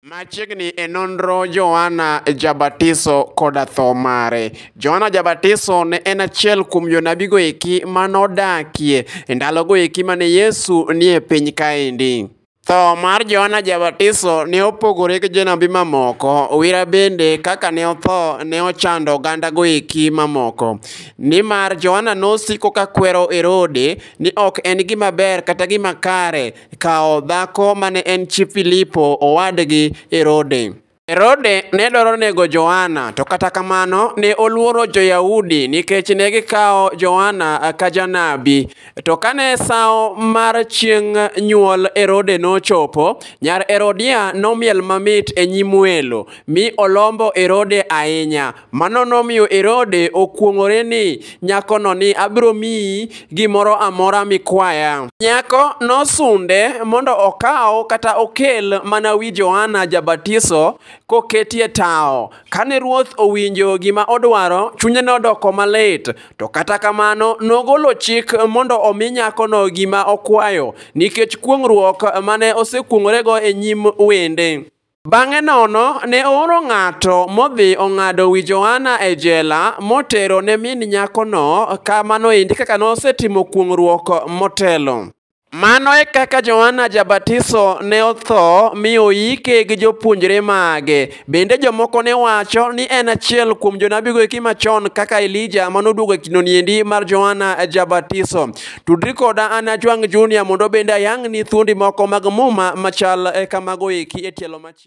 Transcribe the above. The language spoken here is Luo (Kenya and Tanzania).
Machiegni e nonro Johana Jabatiso koda tho mare. Johana Jabatiso ne en achiel kuom jonabigo eki ma nodakie e ndalogo eki ma ne Yesu nie piny kaendi. Tho mar Johana Jabatiso ne opogore gi jonabi mamoko. Owira bende kaka ne otho ne ochando ogandago eki mamoko, nimar Johana nosiko ka kwero Herode ni ok en gima ber kata gima kare kawo dhako mane en chi Filipo owadgi Herode. Herode ne dwaro nego Johana, to kata kamano ne oluoro jo-Yahudi nikech ne gikawo Johana ka janabi. To kane sawo mar chieng' nyuol Herode nochopo, nyar Herodia nomiel mamit e nyim welo, mi olombo Herode ahinya, Mano nomiyo Herode okuong'ore ni nyakono ni abiro miyi gimoro amora mikwaya. Nyako nosunde mondo okaw kata okel mana wi Johana Jabatiso koketie tawo. Kane ruoth owinjo gima odwaro, chunye nodoko malit. To kata kamano nogolo chik mondo omi nyakono gima okwayo nikech kuong'ruok mane osekuong'orego e nyim wende. Bang'e nono ne ooro ng'ato modhi ong'ado wi Johana e jela motero ne min nyakono kamano endi kaka nosetimo kuong'ruok motelo. Mano e kaka Johana Jabatiso ne otho mi oyike gi jopuonjre mage. Bende jomoko ne wacho ni en achiel kuom jonabigo eki machon kaka Elija manoduogo e kindoni endi mar Johana Jabatiso. Tudri koda an Ajwang' Junior mondo bende ayang'ni thuondi moko mag Muma machal eh, kamago eki e tielo machielo.